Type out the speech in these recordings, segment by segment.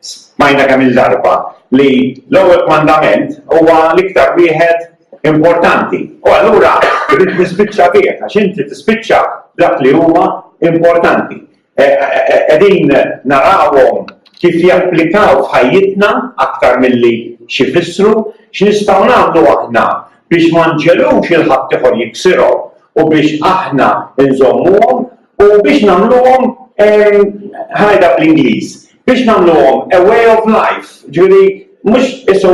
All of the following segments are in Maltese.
Smajna kemm il-darba li l-ewwel kmandament huwa l-iktar wieħed importanti. U allura rrid nispiċċa bih għax inti tispiċċa dak li huma importanti. E, e, e, qegħdin narawhom kif japplikaw f'ħajjitna aktar milli xi fissru, x'nistgħu nagħmlu aħna biex ma nġelux il-ħadd ieħor jiksirhom u biex aħna nżommuhom U biex nagħmluhom, ħanajda bl-Ingliż, biex nagħmluhom a way of life, ġifieri mhux isu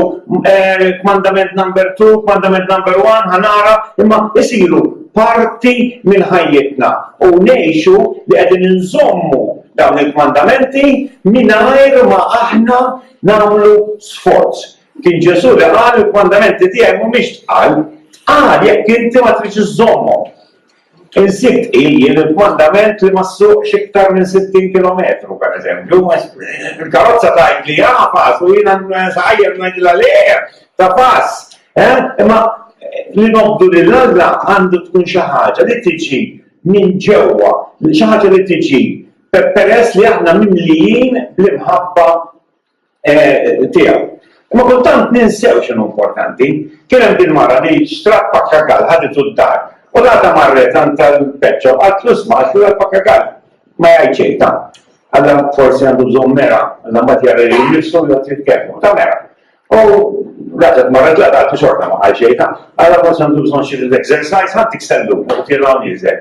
kmandament number two, kmandament number one, ħanara, imma isiru parti minn ħajjitna u ngħixu li qegħdin inżommu dawn il-kmandamenti mingħajr ma aħna nagħmlu sforz. Kien Ġesu li qal il-kmandamenti tiegħi mhumiex tqal, tqal jekk inti ma tridx iżommhom. Insitt hi l-mandament li ma ssuqx iktar minn 60 kilometru, pereżempju, u l-karozza tgħid li ha pass u jiena nsaqajjar ngħidilha le, ta' pass. Imma li nobdu lil Alla għandu tkun xi ħaġa li tiġi minn ġewwa, xi ħaġa li tiġi peress li aħna mimlijin bl-imħabba tiegħu. Imma kultant ninsew x'inhu importanti. Kien hemm din mara li xtrat pakkagall ħaditu d-dar u l-għada marret għand tal-peċċo qatt l-isma' x'hu l-pakkagall. Ma jgħid xejn ta' għalla forsi għandu bżonn mera, għalla mbagħad jara li jmissru u jgħid jitkellmu ta' mera. U raġet marret la għadu xorta ma għal xejn ta' għalla forsi għandu bżonn xi exercise ħadd iksellu u tirgħu nieżel.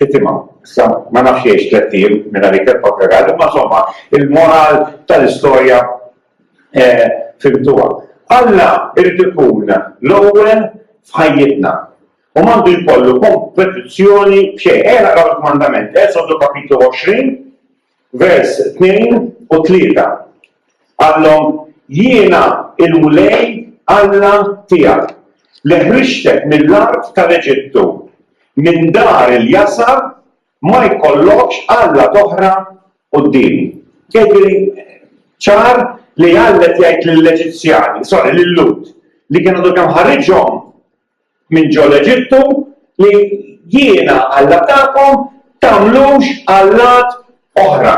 Tittima. Issa, ma nafx jgħix tlett ijiem minn għalik il-papegal, imma insomma, il-moral tal-istorja fimtuha. Alla jrid ikun l-ewwel f'ħajjitna u m'għandu jkollu kompetizzjoni f'xejn. Ejja naqraw il-kmandament, Esodu kapitlu 20, vers tnejn u tlieta, Qalhom, Jiena l-Mulej Alla tiegħek, li ħriġtek mill-art tal-Eġittu, minn dar il-jasar, ma jkollokx allat oħra quddiemi. Jidhirli ċar li Alla qed jgħid lill-Eġizzjani, sorry, lil-Lhud, li kien għadu kemm ħariġhom, minn ġo l-Eġittu, li jiena Alla tagħkom, tagħmlux allat oħra.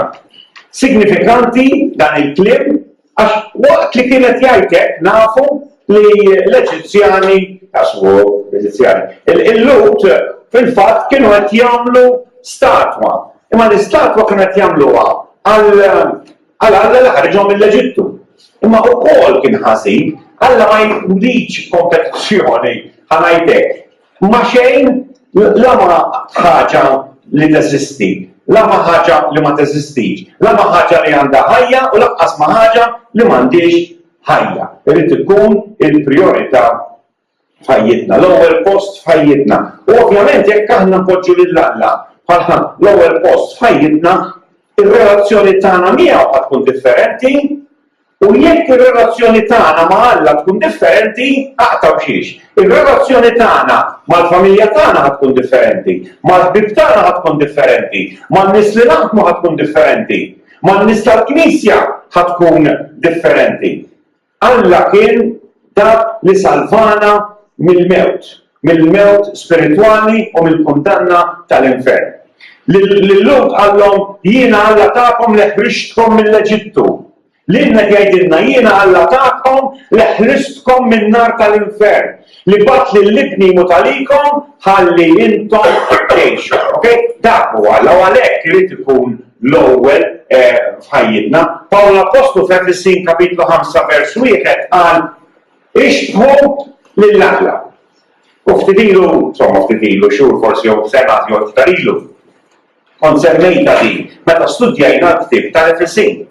Signifikanti dan il-kliem għax waqt li kien qed jgħid hekk nafu li l-Eġizzjani għax hu Eġizzjani. Il-Lut fil-fatt kienu qed jagħmlu statwa. Imma l-istatwa kienu qed jagħmluha għal Għal Alla li ħariġhom mill-Eġittu. Imma ukoll kien ħażin, Alla ma jridx kompetizzjoni ħa ngħidlek. Ma xejn la ma ħaġa li teżisti, la ma ħaġa li ma teżistix, la ma ħaġa li għandha ħajja u lanqas ma ħaġa li m'għandhiex ħajja. Irid ikun il-prijorità f'ħajjitna, l-ewwel post f'ħajjitna. U ovvjament jekk aħna npoġġu lil Alla bħalħa l-ewwel post f'ħajjitna, ir-relazzjoni tagħna miegħu qed tkun differenti u jekk ir-relazzjoni tagħna ma' Alla tkun differenti, aqta' b'xiex. Ir-relazzjoni tagħna mal-familja tagħna ħad tkun differenti, mal-ħbib tagħna ħad tkun differenti, man-nies li naħdmu ħad tkun differenti, man-nies tal-Knisja ħad tkun differenti. Alla kien dak li salvana mill-mewt, mill-mewt spiritwali u mill-kundanna tal-infern. Lil Lut qallhom, Jiena Alla tagħkom li ħriġtkom mill-Eġittu. Lilna qed jgħidilna, Jiena Alla tagħkom li ħristkom min-nar tal-infern, li bagħat lil ibni jmut għalikom ħalli intom tgħixu. Dak huwa Alla u għalhekk irid ikun L-ewwel f'ħajjitna, Pawl l-appostlu f'Efesin kapitlu 5 vers 1 qal ixbħu lil Alla. U ftit ilu, insomma ftit ilu xhur forsi jew sena jew iktar ilu, kont semmejta din meta studjajna l-ktieb tal-Efesin.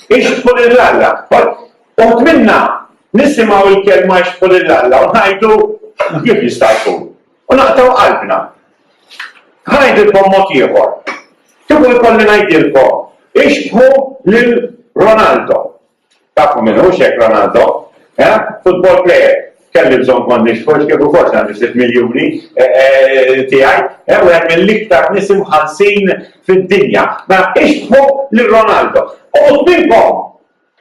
Ixbħu lil Alla. Uħt minna nisimgħu l-kelma ixbħu lil Alla u ngħidu kif jista' jkun. U naqtgħu qalbna. Ħa ngħidilkom mod ieħor. Tieħu jkolli ngħidilkom ixbħu lil Ronaldo. Tafu min hu xek Ronaldo? Eh? Football player. Kelli bżonn kont nixħu x'kif ukoll għandi sitt miljuni eh, eh, tiegħi. Eh, wieħed mill-iktar nies imħallsin fid-dinja. Ma mela, ixbħu lil Ronaldo. U minnkom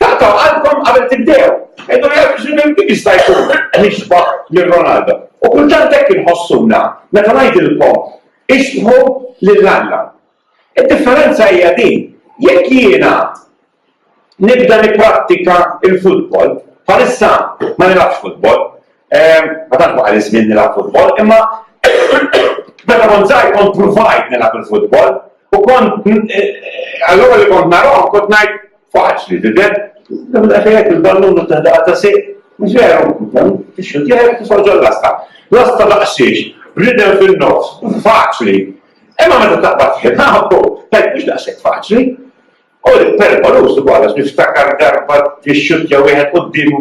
Taqtgħu qalbkom qabel tibdew. Għidu jgħid x'nibem kif jista' jkun nixbaħ lil Ronaldo. U kultant hekk inħossuna meta ngħidilkom ixbħu lil Alla. Id-differenza hija din, jekk jiena nibda nipprattika il-futbol, bħalissa ma nilgħabx futbol, ehm, ma tantx ma żmien nilgħab futbol, imma Meta kont żgħir kont provajt nilgħab il-futbol u kont eh, eh, allura li kont narahom kont ngħid Faċli tidher, imma daqsxejn hekk il-ballun u teħdaqa ta' sejq. Mhux veru, dan ix-xut jgħid kif ġol lasta. Lasta daqsiex, bridem fin-nofs, faċli. Imma meta taqbad ħin, ħabbu, tajt mhux daqshekk faċli. U l-perkolus ukoll għax niftakar darba fix-xut jew wieħed quddiemu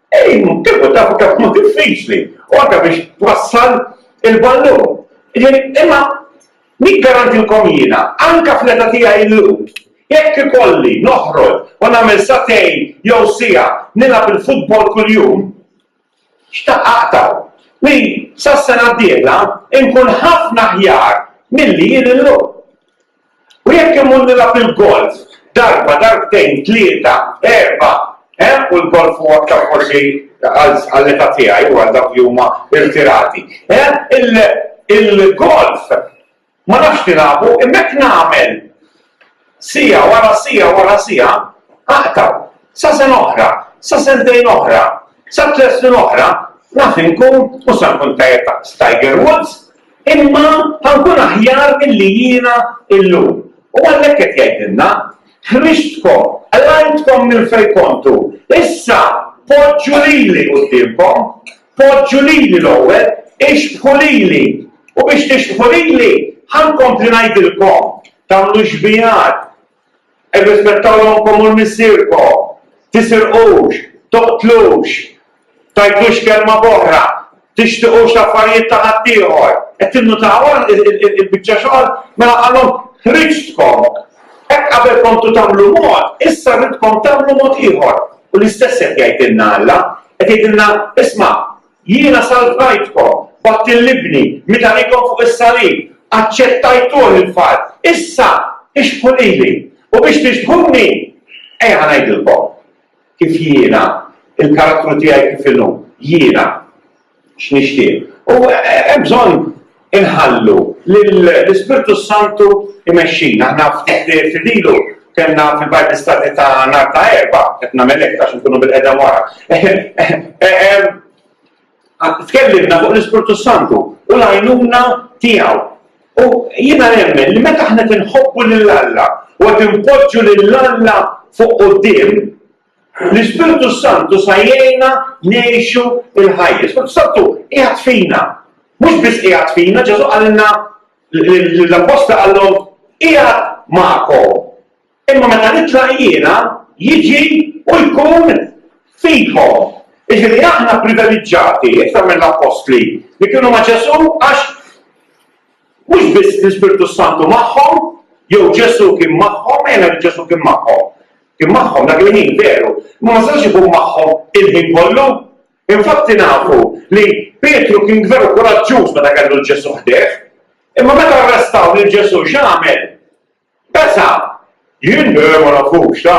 Ejn, kieku tafu kemm hu diffiċli u anke biex twassal il-ballun. Jiġifieri, imma niggarantilkom jiena, anke fl-età tiegħi illum, jekk ikolli noħroġ u nagħmel sagħtejn jew siegħa nilgħab il-futbol kuljum, xtaqt aqta' li sas-sena d-dieħla inkun ħafna aħjar milli jien illum. U jekk immur nilgħab il-golf darba, darbtejn, tlieta, erbgħa, eh, u l-golf huwa aktar forsi għall-età tiegħi u għal dawk li huma irtirati, eh, il-golf ma nafx nilagħbu imma jekk nagħmel siegħa wara siegħa wara siegħa aqta' sa sen oħra, sa sentejn oħra, sa tliet snin oħra, naf inkun u sa nkun tajjeb ta' Tiger Woods, Imma ħa nkun aħjar milli jiena llum. U għalhekk qed jgħidilna, Ħriġtkom, qlajtkom minn fejn kontu, issa poġġu lili quddiemkom, poġġu lili l-ewwel, ixbħu lili, u biex tixbħu lili, ħa nkompli ngħidilkom, tagħmlu xbiehat, Irrispettaw ommkom u l-missierkom, tisirqux, toqtlux, tgħidux kelma b'oħra, tixtiqux l-affarijiet ta' ħaddieħor. Qed tinnutaw il-biċċa xogħol? Mela qalhom ħriġtkom. Hekk qabel kontu tagħmlu mod, issa ridkom tagħmlu mod ieħor. U l-istess qed jgħidilna Alla, qed jgħidilna isma' Jiena salvajtkom b'għadd il-libni, mitanikom fuq is-salib, aċċettajtuh il-far, issa ixbħu lili, u biex tixbħuni, ejja ħa ngħidilkom kif jiena, il-karattru tiegħi kif inhu, jiena x'nixtieq. U hemm bżonn Inħallu lill-Ispirtu s-Santu jmexxina. Aħna ftit lejl ilu kellna fil-Bible Study ta' nhar ta' Erbgħa, qed nagħmel hekk għax inkunu bil-qegħda wara. Tkellimna fuq l-Ispirtu s-Santu u l-għajnuna tiegħu. U jiena nemmen li meta aħna tinħobbu lil Alla u qed inpoġġu lil Alla fuq quddiem, L-Ispirtu s-Santu sa jgħinna ngħixu l-ħajja. L-Ispirtu s-Santu qiegħed fina. Mhux biss qiegħed fina, Ġesù qalilna l-apposta qallhom qiegħed magħkom. Imma meta nitlaq jiena jiġi u jkun fikom. Iġifieri aħna privileġġati iktar mill-appostli li kienu ma' Ġesù għax mhux biss l-Ispirtu s-Santu magħhom, jew Ġesù kien magħhom, ejna li Ġesù kien magħhom. Kien magħhom dak il-ħin, veru, imma ma setgħux ikun magħhom il-ħin kollu. Infatti nafu li Pietru kien veru kuraġġuż meta kellu 'l Ġesù ħdejh. Imma meta arrestaw lil Ġesù x'għamel? Besa'! Jien le ma nafux, ta!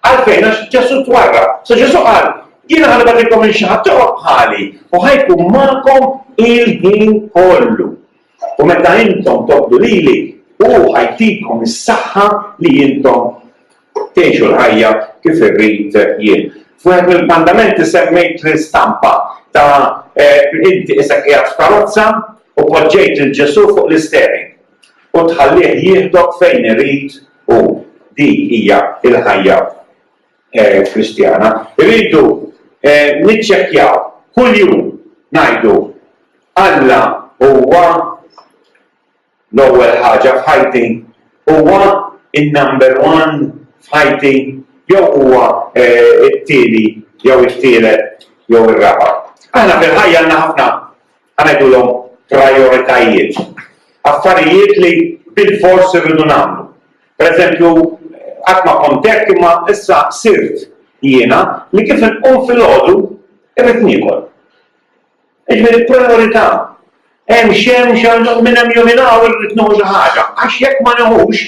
Għalfejn għax Ġesù twarra. Sa Ġesù qal, jiena ħalli bagħtilkom lil xi ħadd ieħor bħali u ħajkun magħkom il-ħin kollu. U meta intom tobdu lili, hu ħa jtikom is-saħħa li intom tgħixu l-ħajja kif irrid jien. F'wieħed mill-kmandamenti semmejt l-istampa ta' inti isek qiegħed f'karozza u poġġejt lil Ġesù fuq l-isteering u tħallih jieħdok fejn irid hu. Dik hija l-ħajja. eh, Kristjana, rridu eh, niċċekkjaw kuljum ngħidu Alla huwa l-ewwel ħaġa f'ħajti, huwa in-number one f'ħajti, jew huwa eh, it-tieni jew it-tielet jew ir-raba'. Aħna fil-ħajja għandna ħafna Ħa ngħidulhom prijoritajiet. Affarijiet li bilfors irridu nagħmlu. Pereżempju, qatt ma kont hekk imma issa sirt jiena li kif inqum filgħodu irrid niekol. Jiġifieri prijorità. Hemm x'hemm x'għandu minn hemm jew minn hawn irrid nieħu xi ħaġa. Għax jekk ma nieħux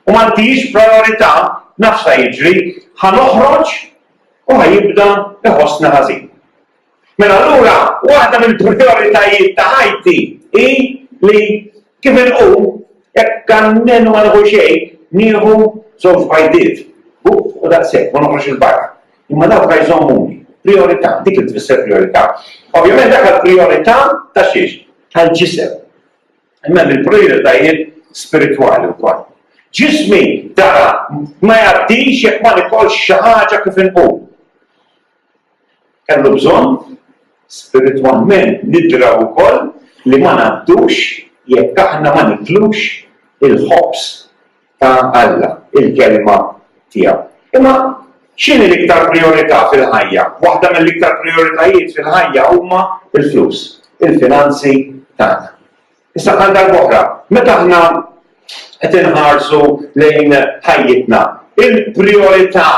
u ma ntihiex prijorità, naf x'ħa jiġri, ħa noħroġ u ħa jibda jħossni ħażin. Mela allura waħda mill-prijoritajiet ta' ħajti hi li kif inqum, jekk almenu ma nieħu xejn, nieħu żewġ bajdiet, buq u daqshekk, ma noħroġx 'il barra. Imma dawk la jżommuni. Prijorità, dik li tfisser prijorità. Ovvjament dak il-prijorità ta' xiex? Tal-ġisem. Imma l-prijoritajiet spiritwali wkoll. Ġismi dara ma jgħaddix jekk ma nikolx xi ħaġa kif inqum. Kellu bżonn spiritwalment nidraw ukoll li ma ngħaddux jekk aħna ma niklux il-ħobż ta' Alla, il-Kelma tiegħu. Imma x'inhi l-iktar prijorità fil-ħajja? Waħda mill-iktar prijoritajiet fil-ħajja huma l-flus, il-finanzi tagħna. Issa għal darb'oħra, meta aħna qed inħarsu lejn ħajjitna, il-prijorità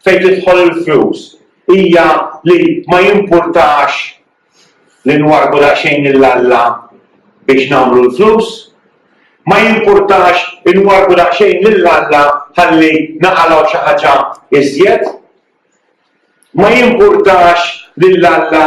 fejn tidħol il-flus hija li ma jimpurtax li nwarrbu daqsxejn lil Alla biex nagħmlu l-flus, ma jimpurtax inwarrbu daqsxejn lil Alla ħalli naqalgħu xi ħaġa iżjed, ma jimpurtax lil Alla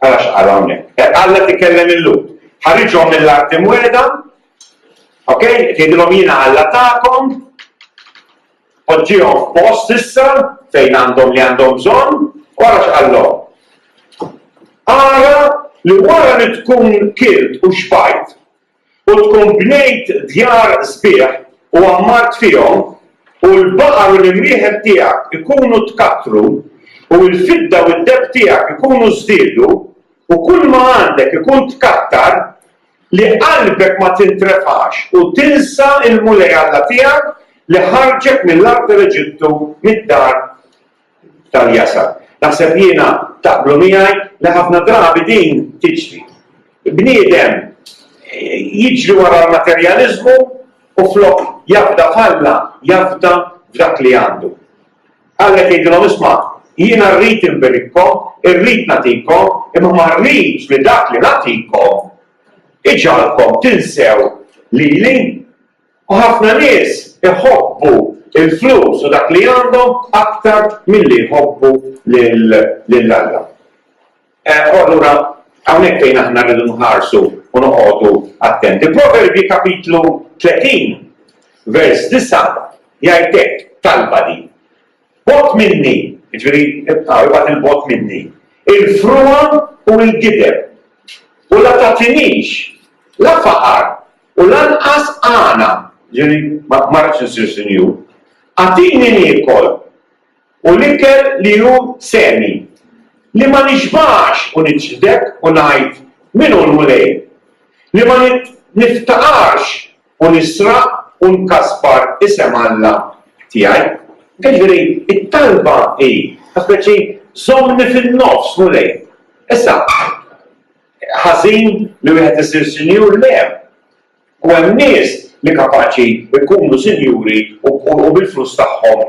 Ara x'qal hawnhekk. Hekk Alla tikellem il-Lhud. Ħariġhom mill-art imwiegħda, ok, tgħidilhom jiena Alla tagħkom, poġġihom f'post issa fejn għandhom li għandhom bżonn, u ara x'qallhom. Ara li wara li tkun kilt u xbajt, U tkun bnejt djar sbieħ u għammart fihom, u l-baqar u l-imrieħel tiegħek ikunu tkattru, u l-fidda u d-deheb tiegħek ikunu żdiedu, u kulma għandek ikun tkattar, li qalbek ma tintrefax u tinsa l-Mulej Alla tiegħek li ħarġek mill-art tal-Eġittu, mid-dar tal-jasar. Naħseb jiena taqblu miegħi li ħafna drabi din tiġri. Bniedem eh, jiġri wara l-materjaliżmu u flok jabda falla jabda f'dak li għandu. Għallek jgħidilhom isma' jiena rrid inbirikkom, irrid natikom, imma ma rridx li dak li natikom iġalkom tinsew lili U ħafna nies iħobbu l-flus u dak li għandhom aktar milli jħobbu lil Alla. U allura hawnhekk fejn aħna rridu nħarsu u noqogħdu attenti. Proverbji kapitlu 30 vers 9 jgħidek talba din. Bot minni, ġveri, ibqaw il-bot minni, il-frua u il-gideb. U la tatinix, la faqar, U lanqas għana, jiġifieri ma rridx insir sinjur, agħtini niekol, u l-ikel li hu seni, li ma nixbax u niċħdek u ngħid, Min hu l-Mulej? Li ma niftaqarx u nisraq u nkasbar isem Alla tiegħi. Jiġifieri t-talba hi, ta' speċi, żommni fin-nofs, Mulej. Issa. Ħażin li wieħed isir sinjur? Le! U hemm nies li kapaċi jkunu sinjuri u bil-flus tagħhom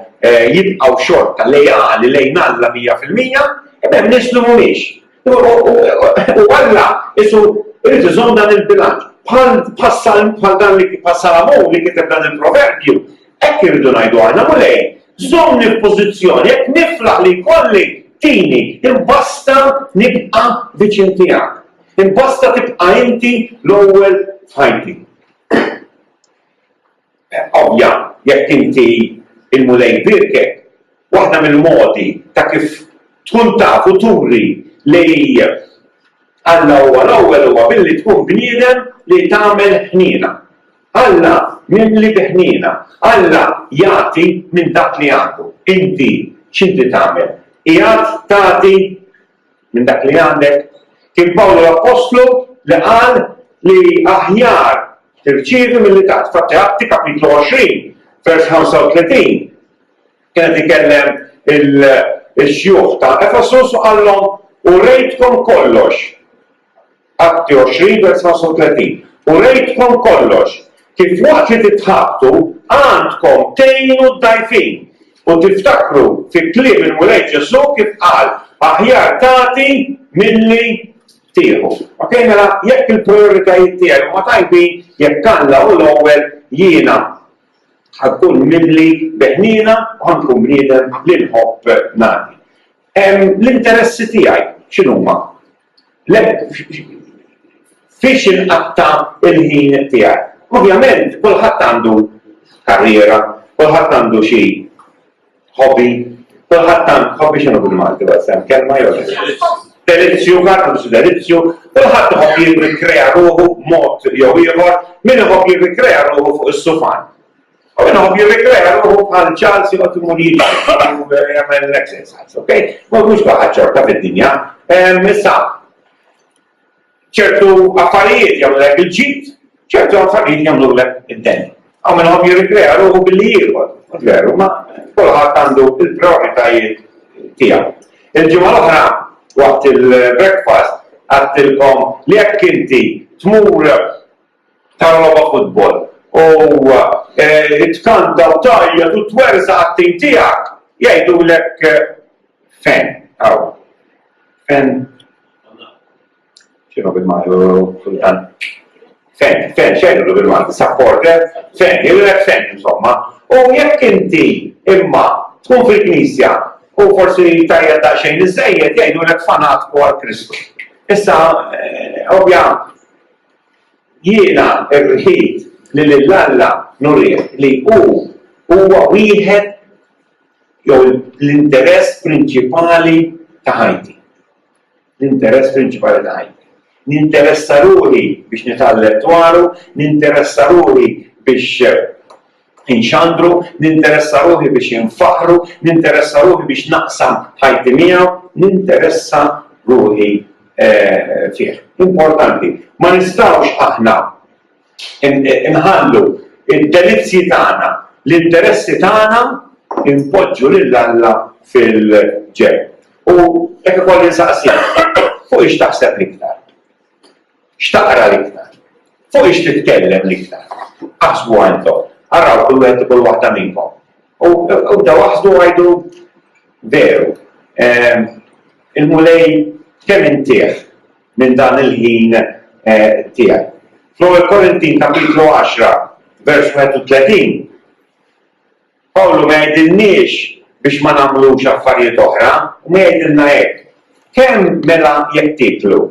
jibqgħu xorta leali lejn Alla mija fil-mija, imma hemm nies li mhumiex. U Alla qisu jrid iżomm dan il-bilanċ. Bħal dan li bħas-Salamun li kiteb dan il-proverbju, Hekk irridu ngħidu aħna, Mulej, żommni f'pożizzjoni jekk niflaħ li jkolli tini, imbasta nibqa' viċin tiegħek. Imbasta tibqa' inti l-ewwel f'ħajti. Ovvja, jekk inti il-mulej birke, waħda mill-modi ta' kif tkun taf u turi li Alla huwa l-ewwel huwa billi tkun bniedem li tagħmel ħniena. Alla jimli bi ħniena. Alla jagħti minn dak li għandu. Inti x'inti tagħmel? Qiegħed tagħti minn dak li għandek? Kien Pawlu l-appostlu li qal li aħjar tirċievi milli tagħti. Fatti Atti kapitlu 20 vers 35 kienet ikellem il-xjuħ ta' Efesus u qallhom u rejtkom kollox Atti 20 vers 35, U rejtkom kollox, kif waqt li titħabtu għandkom tgħinu d-dgħajfin, u tiftakru fi kliem il-Mulej Ġesù kif qal, Aħjar tagħti milli tieħu. Ok, mela jekk il-prioritajiet tiegħi huma tajbin, jekk Alla hu l-ewwel jiena ħakkun mimli beħnina u ħankun bniedem li nħobb nagħti. L-interessi tiegħi x'inhuma? Le, fiex inqatta' l-ħin tiegħi? Ovvjament, kulħadd għandu karriera, kulħadd għandu xi hobby, kulħadd għandu hobby x'inhu bil-Malti bas hemm kelma jew delizzju, kulħadd għandu xi delizzju, kulħadd iħobb jirrikrea ruħu b'mod jew ieħor, min iħobb jirrikrea ruħu fuq is-sufan. U minn hom jirrikreja ruħu bħal Charles jgħoddu munir u jagħmel l-exercise, ok? Ma mhux baqa' ċorta fid-dinja. Issa, ċertu affarijiet jagħmlek il-ġid, ċertu affarijiet jagħmlulek id-den. U minn hom jirrikreja ruħu billi jieħor, veru, ma kulħadd għandu il-prioritajiet tiegħu. Il-ġimgħa l-oħra waqt il-breakfast għattilkom li jekk inti tmur ta' logħba futbol. U tkanta u tgħajjat u twerżaq għat-tim tiegħek, jgħidulek fen hawn. Fen. X'inhu bil-Malti kultant? Fen, fen, x'għidulu bil-Malti? Supporter? Fen, jgħidulek fen insomma. U jekk inti imma tkun fil-Knisja u forsi tajjed daqsxejn iżejjed jgħidulek fanatku għal Kristu. Issa, ovvja, Jiena rrid li lil Alla nurih li hu huwa wieħed jew l-interess prinċipali ta' ħajti. L-interess prinċipali ta' ħajti. Ninteressa ruħi biex nitgħallem dwaru, ninteressa ruħi biex Inxandru, ninteressa ruħi biex infaħħru, ninteressa ruħi biex naqsam ħajti miegħu, ninteressa ruħi fih. Importanti, ma nistgħux aħna nħallu id-delizzji tagħna, l-interessi tagħna inpoġġu lil Alla fil-ġenb. U hekk ukoll insaqsik, fuq ix taħseb l-iktar? X'taqra l-iktar? Fuq ix titkellem l-iktar? Aħsbu għandkom. Araw kull wieħed u kull waħda minnkom. U bdew aħsbu u għidu veru. Ehm, Il-Mulej kemm intih minn dan il-ħin eh, tiegħek. Fl-ewwel Korintin kapitlu 10 vers 31 Pawlu ma jgħidilniex biex ma nagħmlux affarijiet oħra, imma jgħidilna hekk, Kemm mela jekk tieklu,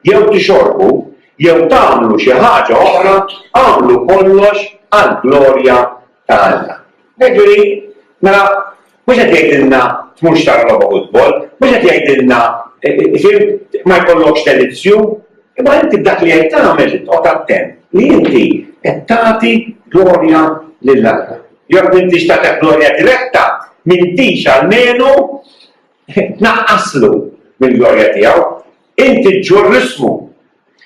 jew tixorbu, jew tagħmlu xi ħaġa oħra, agħmlu kollox għall-glorja ta' Alla. Jiġifieri, mela, mhux qed jgħidilna tmurx tara logħba futbol, mhux qed jgħidilna, fihimt, ma jkollokx telivżjun, Imma inti b'dak li qed tagħmel titqgħod attent li inti qed tagħti glorja lil Alla. Jekk m'intix tagħti glorja diretta, m'intix almenu tnaqqaslu mill-glorja tiegħu. Inti ġġur l-ismu.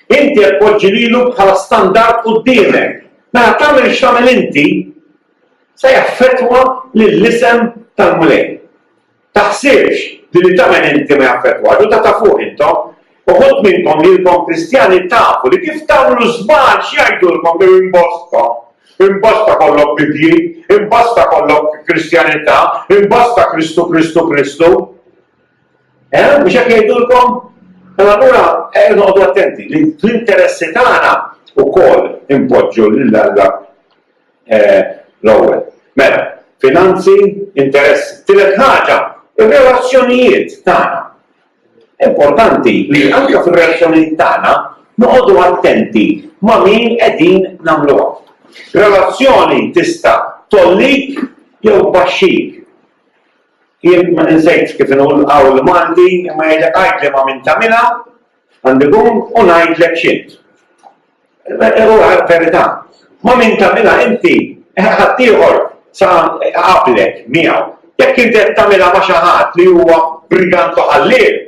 Inti qed poġġi lilu bħala standard quddiemek. Mela tagħmel x'tagħmel inti se jaffettwa lill-isem tal-Mulej. Taħsibx li li tagħmel inti ma jaffettwax u ta' ta' fuq intom. Uħud minnkom lilkom Kristjani tafu li kif tagħmlu żball x'jgħidulkom li imbosta, imbosta kollok Bibbji, imbosta kollok Kristjanità, imbosta Kristu, Kristu, Kristu. Eh, biex hekk jgħidulkom? Mela allura eh, noqogħdu attenti li l-interessi tagħna wkoll impoġġu lil Alla L-ewwel. Mela, finanzi, interessi. Tielet ħaġa, ir-relazzjonijiet tagħna. Importanti li anke fir-relazzjonijiet tagħna noqogħdu attenti ma' min qegħdin nagħmluha. Relazzjoni tista' tgħollik jew tbaxxik. Jien ma ninsejx kif inhu l-qawl Malti imma jgħidlek għidli ma' min tagħmilha Għandi gong u ngħidlek x'int. Huwa verità. Ma' min tagħmilha inti ħaddieħor sa qablek miegħu. Jekk inti qed tagħmilha ma' xi ħadd li huwa brigant u ħalliel,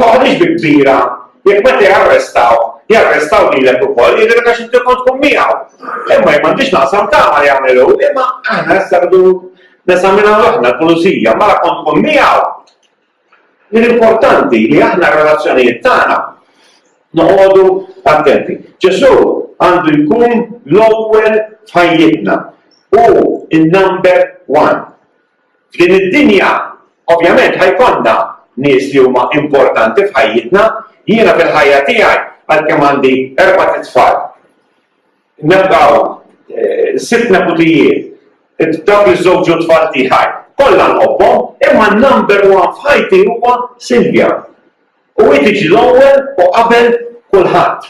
toħodix bi kbira jekk meta jarrestaw jarrestaw lilek ukoll, jidher għax inti kont tkun miegħu. Imma jien m'għandix naqsam tama li jagħmlu, imma aħna issa rridu nesaminaw aħna l-pulizija, mara kont tkun miegħu. Jien importanti li aħna r-relazzjonijiet tagħna noqogħdu attenti. Ġesù għandu jkun l-ewwel f'ħajjitna. Hu n-number one. F'din id-dinja, ovvjament ħajkonna nies li huma importanti f'ħajjitna, jiena fil-ħajja tiegħi għalkemm għandi erbat' itfal. Nibqgħu sitt neputijiet, dawk iż-żewġ u t-tfal tiegħi. Kollha nħobbhom, imma n-number one f'ħajti huwa Silvia. U hi tiġi l-ewwel u qabel kulħadd.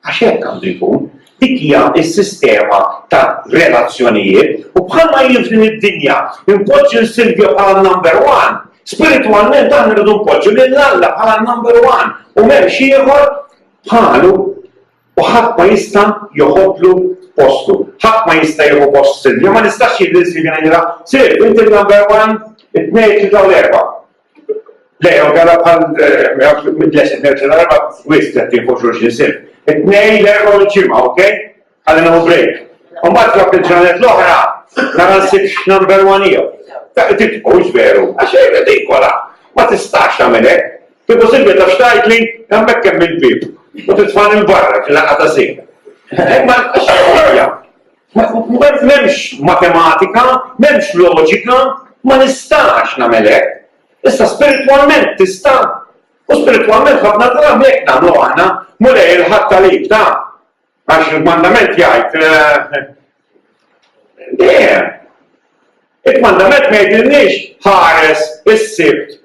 Għax hekk għandu jkun. Dik hija s-sistema ta' relazzjonijiet u bħalma hi f'din id-dinja npoġġi lil Silvia bħala n-number one, spiritwalment aħna rridu npoġġu lil Alla bħala n-number one u m'hemmx ieħor bħalu. u ħadd ma jista' joħodlu postu. Ħadd ma jista' jieħu post Silvja, ma nistax jien lil Silvja ngħidilha, Silvja, inti number one, it-tnejn tibda l-erba'. Le, u gara bħal mid-lesin eh, nerġa' l-erba' wisq qed jieħu xulxin sir. It-tnejn l-erba' u l-ġimgħa, okej? Għalli naħu break. U mbagħad ġab il-ġranet l-oħra, nara nsib number one jew. Dak tibqgħux veru, għax dik kollha ma tistax tagħmel hekk. Kieku Silvia tafx tgħidli, hemmhekk hemm il-bieb u titfagħni 'l barra fil-laqgħa ta' żejt. Hekk ma nibqax ħajja. M'hemmx matematika, m'hemmx loġika, ma nistax nagħmel hekk. Issa spiritwalment tista'. U spiritwalment ħafna drabi hekk nagħmlu aħna, mulej il-ħadd tal-ib ta' għax il-mandament jgħid eh, dejjem. Il-mandament ma jgħidilniex ħares is-sibt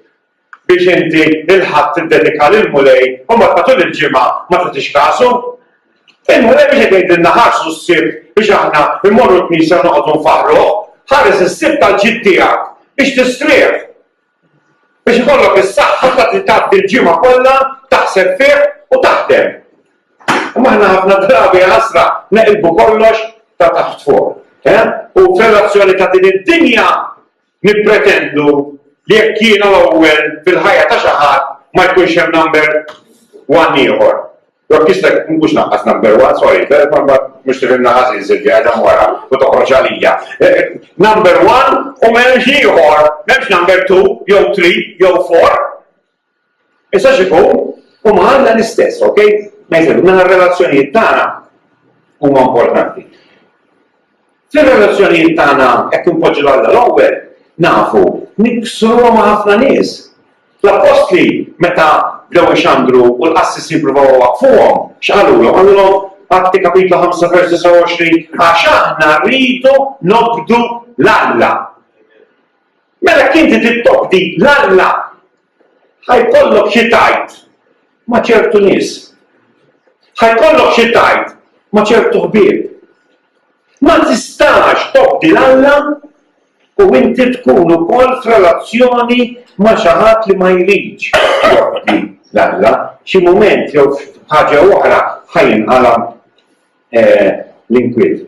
biex inti il-Ħadd tiddedika lill-Mulej u mbagħad matul il-ġimgħa ma tagħtix kasu? Il-Mulej mhux qed jgħidilna ħarsu s-Sibt biex aħna mmorru l-knisja u noqogħdu nfaħħruh. Ħares is-Sibt għall-ġid tiegħek, biex tistrieħ, biex ikollok is-saħħa ta' tgħaddi l-ġimgħa kollha taħseb fih u taħdem. Imma aħna ħafna drabi ħasra neqilbu kollox ta' taħt fuq. Eh? U f'relazzjoni ta' din id-dinja Nippretendu li jekk jiena l-ewwel fil-ħajja ta' xi ħadd ma jkunx hemm number one ieħor. Jekk jista' mhux naqqas number one, sorry, l-kelma mbagħad mhux tifhimna ħażin Silvia qiegħda wara u toħroġ għalija. Number one u m'hemmx ieħor, m'hemmx number two jew three jew four. Issa xi fu, huma għandna l-istess, ok? Ma jisir, mela r-relazzjonijiet tagħna huma importanti. Fir-relazzjonijiet tagħna hekk impoġġi l-Alla l-ewwel, nafu, niksru ma' ħafna nies. L-appostli meta bdew ixandru u l-qassis jippruvaw waqfuhom, x'qalulhom? Qalulhom Atti kapitlu 5 vers 29 għax aħna rridu nobdu l-Alla. Mela jekk inti trid tobdi 'l Alla, ħa jkollok xi tgħid ma' ċertu nies. Ħa jkollok xi tgħid ma' ċertu ħbieb. Ma tistax tobdi 'l Alla u inti tkun ukoll f'relazzjoni ma' xi ħadd li ma jridx jobdi 'l Alla. Xi mument jew f'ħaġa oħra ħa jinqala' l-inkwiet.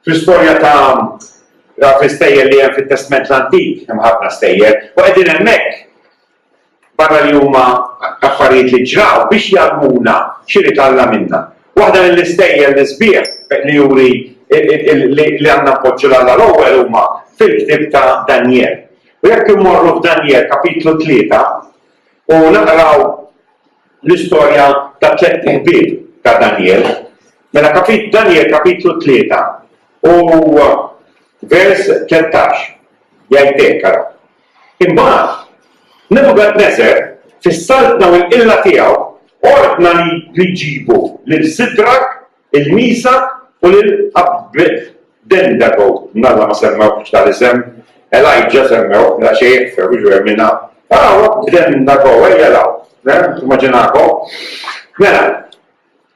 Fl-istorja ta' dawk l-istejjer li hemm fit-Testment l-Antik, hemm ħafna stejjer, u qegħdin hemmhekk, barra li huma affarijiet li ġraw, biex jgħallmuna x'irid Alla minna. Waħda mill-istejjer l-isbieħ li juri li għandna npoġġu 'l Alla l-ewwel huma fil-ktieb ta' Danjel. U jekk immorru f'Danjel kapitlu tlieta u naqraw l-istorja tat-tlett iħbieb ta' Danjel. Mela kapit Danjel kapitlu tlieta u vers 13 jgħid hekk ara. Imbagħad Nebukadneżar fis-saltna u l-qilla tiegħu ordna li jġibu lil Sidrak, Il-Knisja u lil Abd Ben Dago, Nalla ma semmewhx tal-isem, Elijah semmewh, la xejn ikfer u ġwer minnha. Araw Abd Ben Dago, ejja law, immaġinakom. Mela,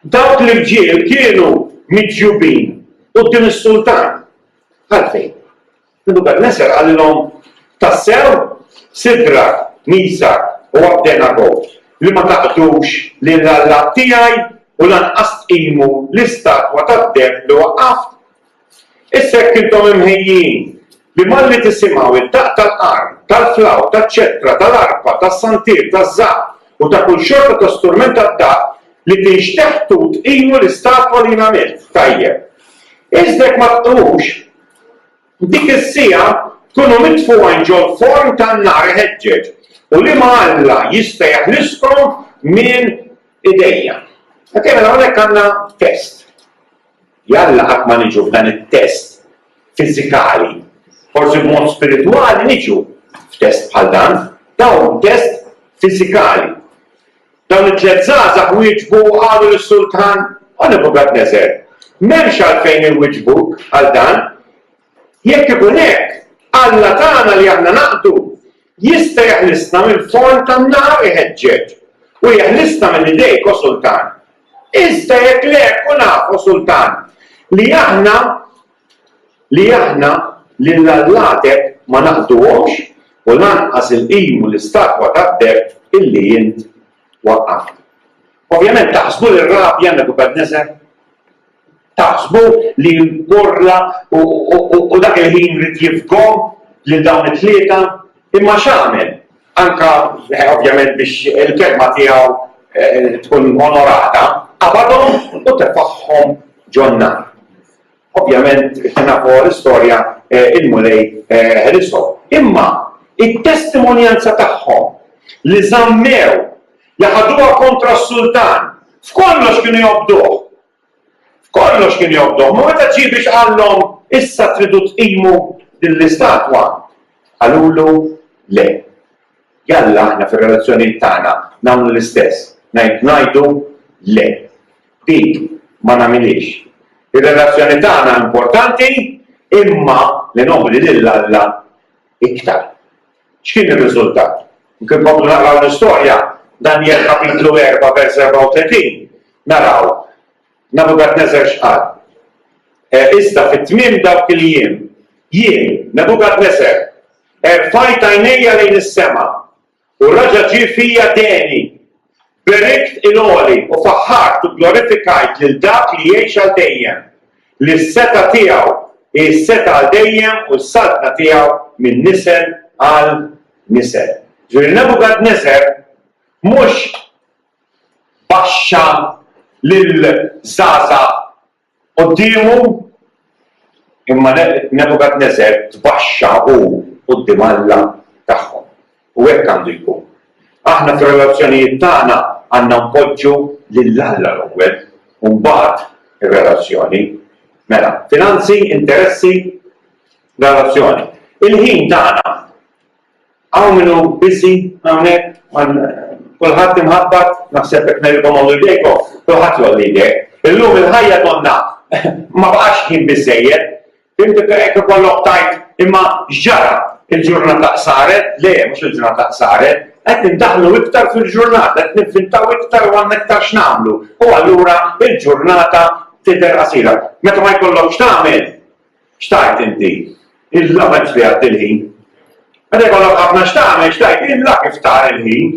dawk l-irġiel kienu miġjubin quddiem is-sultan. Għalfejn? Nebukadneżar qalilhom, Tassew, Sidrak, Misak u Abdenago, li ma taqdux lil Alla tiegħi u lanqas tqimu l-istatwa tad-deheb li waqqaft? Issa jekk intom imħejjin li malli tisimgħu d-daqq tal-qarn, tal-flawt, taċ-ċetra, tal-arpa, tas-santier, taż-żapp u ta' kull xorta ta' strument tad-daqq li tinxteħtu tqimu l-istatwa li jien għamilt, tajjeb. Iżda jekk ma tqimux, F'dik is-siegħa tkunu mitfugħin ġol-forn tan-nar iħeġġeġ, u liema alla jista' jeħliskom minn idejja? Okej, mela hawnhekk għandna test. Jalla qatt ma niġu f'dan it-test fiżikali. Forsi b'mod spiritwali niġu f'test bħal dan, dawn test fiżikali. Dawn it-tliet żgħażagħ wieġbu u qalu lis-sultan, O Nebukadneżar, m'hemmx għalfejn inwiġbuk għal dan. Jekk ikun hekk, Alla tagħna li aħna naqdu jista' jeħlisna mill-forn tan-nar iħeġġeġ u jeħlisna minn idejk, o sultan. Iżda jekk le, kun af, o sultan, li aħna li aħna lil allatek ma naqbduhomx u lanqas il-qim u l-istatwa tad-deheb illi int waqqaft. Ovvjament, taħsbu li rrabja Nebukadneżar? Taħsbu li nporla u dak il-ħin rid jifghom lil dawn it-tlieta? Imma x'għamel? Anke ovvjament biex il-kelma tiegħu tkun onorata, qabadhom u tefagħhom ġon-nar. Ovvjament, kif nafu l-istorja, il-Mulej ħelishom. Imma it-testimonjanza tagħhom li żammew, li ħaduha kontra s-sultan, f'kollox kienu jobduh. F'kollox kienu jobduh. Ma meta ġie biex qallhom issa tridu tqimu din l-istatwa, qalulu le. Jalla aħna fir-relazzjonijiet tagħna nagħmlu l-istess, ngħidu le. Dik ma nagħmilhiex. Ir-relazzjoni tagħna importanti imma li nobli lil Alla iktar. X'kien ir-riżultat? Jekk inkomplu naqraw l-istorja, Danjel kapitlu erbgħa vers 34, naraw Nebukadneżar x'qal. E, iżda fi tmiem dawk il-jiem, jien, Nebukadneżar, erfajt għajnejja lejn is-sema U raġa' ġie fija deni. Berikt il-Għoli u faħħart u gglorifikajt lil Dak li jgħix għal dejjem, li s-setgħa tiegħu hi s-setgħa għal dejjem u s-saltna tiegħu minn nisel għal nisel. Ġifieri Nebukadneżar mhux baxxa lill-żgħażagħ Quddiemu, imma Nebukadneżar tbaxxa hu quddiem Alla tagħhom. U hekk għandu jkun. Aħna fir-relazzjonijiet tagħna għandna npoġġu lil Alla l-ewwel, u mbagħad ir-relazzjoni. Mela, finanzi, interessi, relazzjoni. Il-ħin tagħna. Hawn min hu busy hawnhekk, kulħadd imħabbat, naħseb jekk ngħidilkom għollu jdejkom, kulħadd jgħolli jdejh. Illum il-ħajja donnha ma baqax ħin biżżejjed. Fimtu hekk ikollok tajt imma x'ġara? Il-ġurnata qsaret? Le, mhux il-ġurnata qsaret. Qed nindaħlu iktar fil-ġurnata, qed nivvintaw iktar u għandna iktar x'nagħmlu. U allura il-ġurnata tidher qasira. Meta ma jkollokx tagħmel, X'tgħid inti? Illa ma jifdiha għad il-ħin. Meta jkollok ħafna x'tagħmel, x'tgħid? Illa kif tara il-ħin.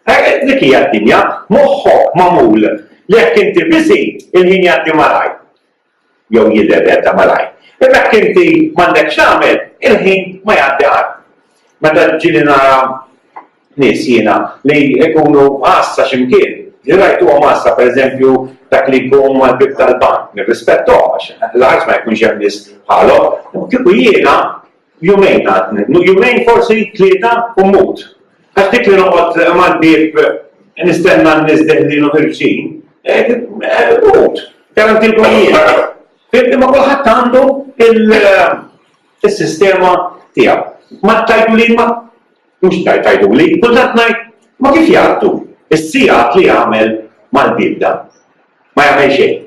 Hekk dik hija d-dinja, moħħok magħmul li jekk inti biżi, il-ħin jgħaddi malaj. Jew jidher jgħadda malaj. Imma jekk inti m'għandek x'tagħmel, il-ħin ma jgħaddi qatt. Meta ġieli nara nies jiena li jkunu għassa xi mkien, li rajtuhom għassa pereżempju dak li jkun mal-bieb tal-bank, nirrispetthom għax l-art ma jkunx hemm nies bħalhom, imma kieku jiena jumejn għadni, jumejn forsi tlieta u mmut. Għax dik li noqgħod mal-bieb nistenna n-nies deħlin u ħirġin, eh, eh, mut, garantilkom jiena. Imma kulħadd għandu il- is-sistema tiegħu. Ma tajtu li ma Mhux tgħid tgħiduli, kultant ngħid ma kif jgħaddu s-sigħat li jagħmel mal-bieb dan. Ma jagħmel xejn.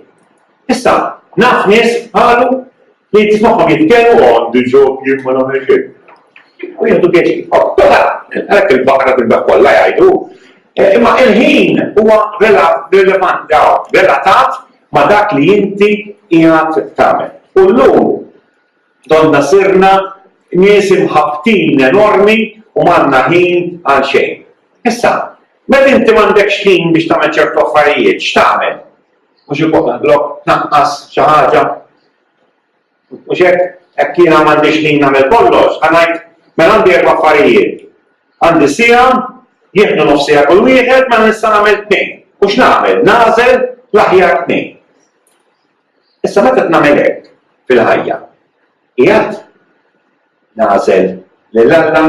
Issa, naf nies qalu li tismagħhom jitkellmu għandi ġob jien ma nagħmel xejn. U jieħdu pjaċi. Għalhekk il-baqra bil kollha jgħidu. Eh, imma il-ħin huwa relevant relatat ma dak li inti jgħat tagħmel. U llum Donnha sirna nies imħabbtin enormi u m'għandna ħin għal xejn. Issa, meta inti m'għandekx ħin biex tagħmel ċertu affarijiet, x'tagħmel? Mhux il-kop naħdlok, tnaqqas xi ħaġa. Mhux hekk, hekk jiena m'għandix ħin nagħmel kollox, ħanajt mela għandi erba' affarijiet. Għandi sija, jieħdu nofsija kull wieħed ma mela nista' nagħmel tnejn. U x'nagħmel? Nagħżel l-aħjar tnejn. Issa meta qed nagħmel hekk fil-ħajja, qiegħed nagħżel lil Alla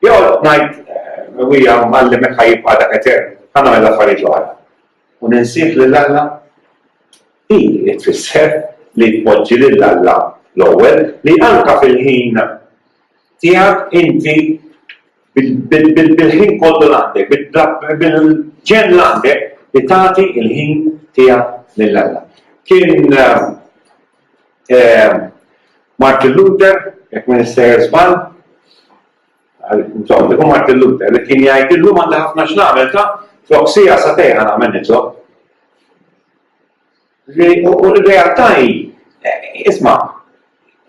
jew qed ngħid Ewwija Mgħallem hekk ħa jibqa' dak etern, ħa nagħmel l-affarijiet l-oħra u ninsih lil Alla? Din hi tfisser li tpoġġi lil Alla l-ewwel, li anke fil-ħin tiegħek inti bil-ħin kollu li għandek, bil-ġenn li għandek li tagħti l-ħin tiegħek lil Alla. Kien eh, eh, Martin Luther, jekk ma nistejjer żball, Insomma, tkun Martin Luther li kien jgħid illum għandha ħafna x'nagħmel ta' flok sija sa tejħa nagħmel nitlob. U r-realtà hi, isma',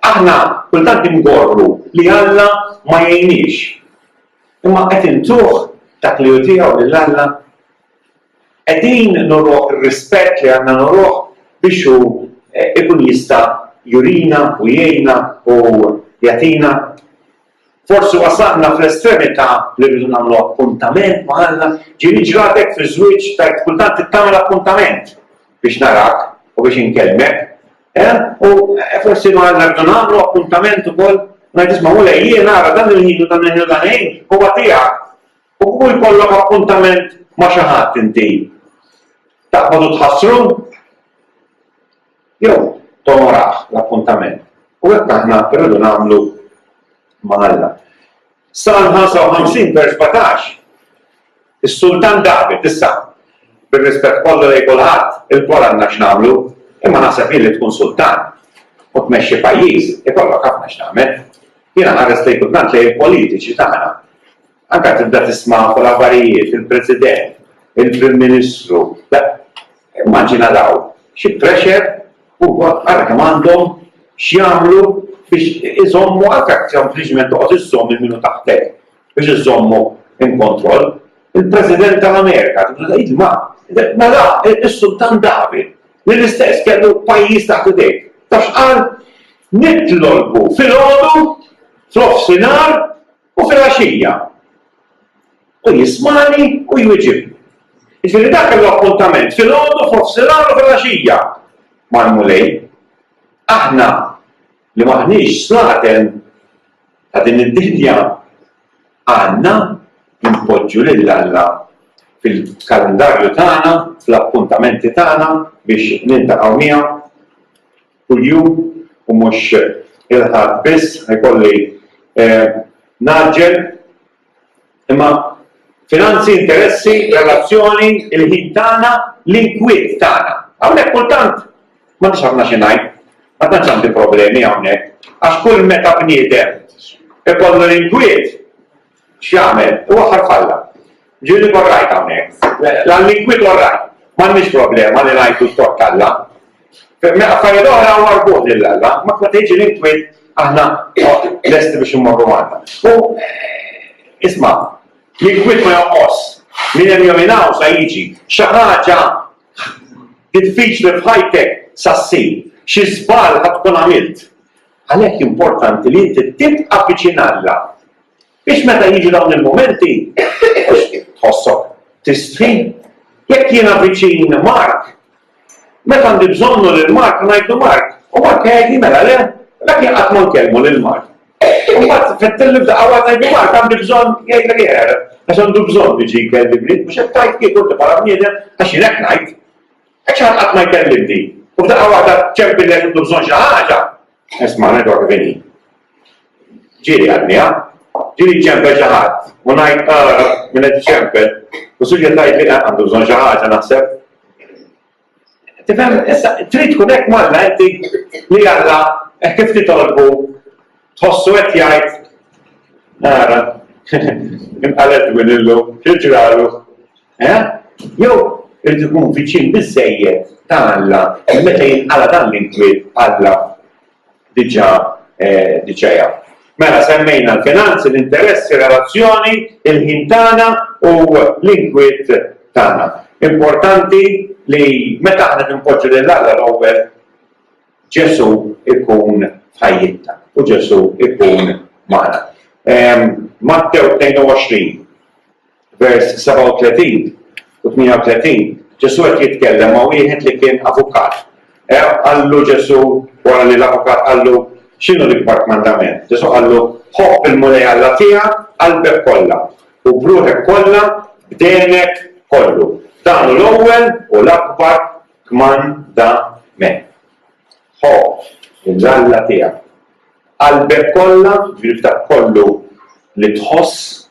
aħna kultant ingorru li Alla ma jgħinniex. Imma qed intuh dak li hu tiegħu lil Alla? Qegħdin nuruh ir-rispett li għandna nuruh biex hu jkun jista' jurina u jgħinna u jagħtina? Forsi wasalna fl-estremità li rridu nagħmlu appuntament ma' Alla? Ġieli ġratek fiż-żwieġ stajt kultant tagħmel appuntament biex narak u biex inkellmek? Eh? U eh, forsi ma' Alla rridu nagħmlu appuntament ukoll? Ngħid isma' Mulej jien ara dan il-ħin u dan il-ħin u dan il-ħin huwa tiegħek. U kull jkollok appuntament ma' xi ħadd inti. Taqbadu tħassru? Jew tonorah l-appuntament. U hekk aħna rridu nagħmlu ma' Alla. Salm 55 vers 17, Is-Sultan David, issa, bir-rispett kollu lejn kulħadd, ilkoll għandna x'nagħmlu, imma naħseb jien li tkun sultan u tmexxi pajjiż ikollok ħafna x'tagħmel. Jiena nħares lejn kultant lejn il-politiċi tagħna. Anke tibda tisma' fuq l-aħbarijiet il-President, il-Prim Ministru, immaġina dawn xi pressure u ara kemm għandhom x'jagħmlu biex iżommu anke sempliċement toqgħod iżżomm minn minnu taħtek biex iżommu in kontroll. Il-President tal-Amerika tibda tgħid ma mela is-Sultan David li l-istess kellu pajjiż taħt idejh. Tafx qal? Nitlolbu filgħodu fl-offsinar U filgħaxija hu jismagħni u jwiġibni. Jiġifieri dak kellu appuntament filgħodu, f'nofsinhar u filgħaxija mal-Mulej. Aħna li m'aħniex slaten ta' din id-dinja għandna npoġġu lil Alla fil-kalendarju tagħna, fl-appuntamenti tagħna biex niltaqgħu miegħu. kuljum u mhux il-Ħadd biss, ħajkolli ngħaġġel. Imma finanzi, interessi, relazzjoni, il-ħin tagħna, l-inkwiet tagħna. Hawnhekk kultant m'għandix ħafna xi ngħid, ma tantx għandi problemi hawnhekk, għax kull meta bniedem ikollu l-inkwiet, X'jagħmel? Iwaħħal f'Alla. Ġieli jkun rajt hawnhekk. L-annikwit hu r-ragħaj. M'għandniex problema li ngħidu sott Alla. F'affarijiet oħra huwa marbut lil Alla, ma meta jiġi l-inkwit aħna lesti biex immorru Malta. U isma' l-inkwit ma jonqos. Min hemm jom ingħaw sa jiġi. Xi ħaġa diffiċli f'ħajtek sa ssir. Xi żball ħad tkun għamilt. Għalhekk importanti li inti tibqa' viċin Alla. Biex meta jiġu dawn il-mumenti, tħossok tistħi. Jekk jiena viċin Mark, meta għandi bżonnu lil Mark ngħidu Mark, u Mark jgħidli mela le, dak jien qatt ma nkellmu lil Mark. U mbagħad fettilli f'daqqa waħda ngħidu Mark għandi bżonn jgħidlek jeħer, għax għandu bżonn biġi jkellimni, mhux qed tajt kif inti bħala bniedem għax jien hekk ngħid. Għax ħadd qatt ma jkellimni. U f'daqqa waħda ċempillek intu bżonn xi ħaġa. Isma' ngħidlek vini. Ġieli għadni, ha? Ġieli ċempel xi ħadd, u ngħid, Ara, min qed iċempel! U Silvia tgħidli, Eh, għandu bżonn xi ħaġa, naħseb. Tifhem, issa trid tkun hekk m'Alla inti li Alla hekk kif titolbu tħossu qed jgħid, Ara, inqaled minn illum, xi ġralu? Eh? Jew irid ikun viċin biżżejjed ta' Alla meta jinqala dan l-inkwiet Alla diġà diġà jaf. Mela semmejna l-finanzi, l-interessi, ir-relazzjoni, il-ħin tagħna u l-inkwiet tagħna. Importanti li meta aħna ninpoġġu lil Alla l-ewwel Ġesù ikun ħajjitna u Ġesù ikun magħna. Ehm, Mattew 22 vers 37 u 38, Ġesù qed jitkellem ma' wieħed li kien avukat. Eh, qallu Ġesù wara li l-avukat qallu x'inhu l-ikbar kmandament. Ġesù qallu ħobb il-Mulej Alla tiegħek qalbek kollha u bruħek kollha b'denek kollu. Dan hu l-ewwel u l-akbar kmandament. Ħobb il-Alla tiegħek qalbek kollha, ġifieri kollu li tħoss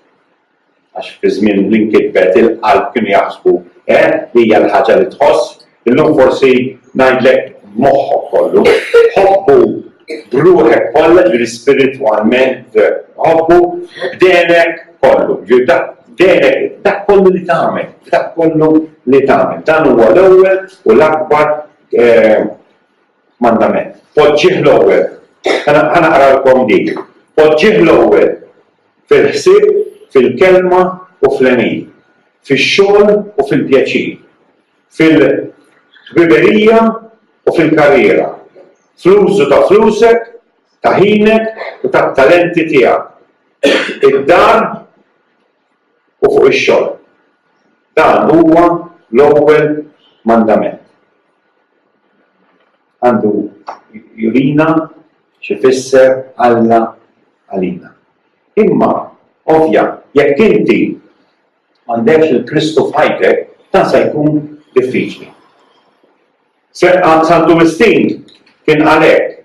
Għax fi żmien li nkitbet il-qalb kienu jaħsbu eh li hija l-ħaġa li tħoss, illum forsi ngħidlek b'moħħok kollu. Ħobbu b'ruħek kollha, jiġifieri spiritwalment ħobbu b'denek kollu, jiġifieri denek dak kollu li tagħmel, dak kollu li tagħmel. Dan huwa l-ewwel u l-akbar eh, Mandament. Poġġih l-ewwel. Ħa naqralkom dik. Poġġih l-ewwel fil-ħsieb, fil-kelma u fl-għemil, fix-xogħol u fil-pjaċir, fil-ħbiberija u fil-karriera, fl-użu ta' flusek, ta' ħinek u tat-talenti tiegħek. Id-dar. u fuq ix-xogħol. Dan huwa l-ewwel mandament. Għandu jurina x'ifisser Alla għalina. Imma, ovvja, jekk inti m'għandekx lil Kristu f'ħajtek, dan se jkun diffiċli. Santu Mistin kien għalhekk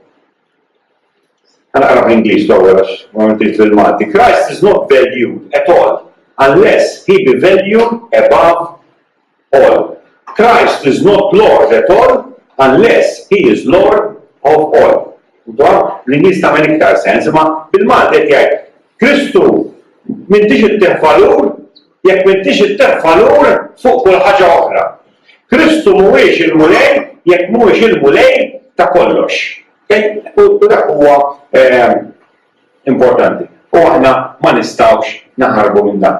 Għanaqra bl-Ingliż l-ewwel għax ma mintix bil-Malti. Christ is not valued at all unless he be valued above all. Christ is not Lord at all unless he is Lord of all. Dwar l-Ingliż ta' minn iktar sens, ma bil-Malti qed jgħid Kristu mintix ittih valur Jekk m'intix ittef valur fuq kull ħaġa oħra. Kristu mhuwiex il-Mulej jekk mhuwiex il-Mulej ta' kollox. U dak huwa importanti. U aħna ma nistgħux naħarbu minn dan.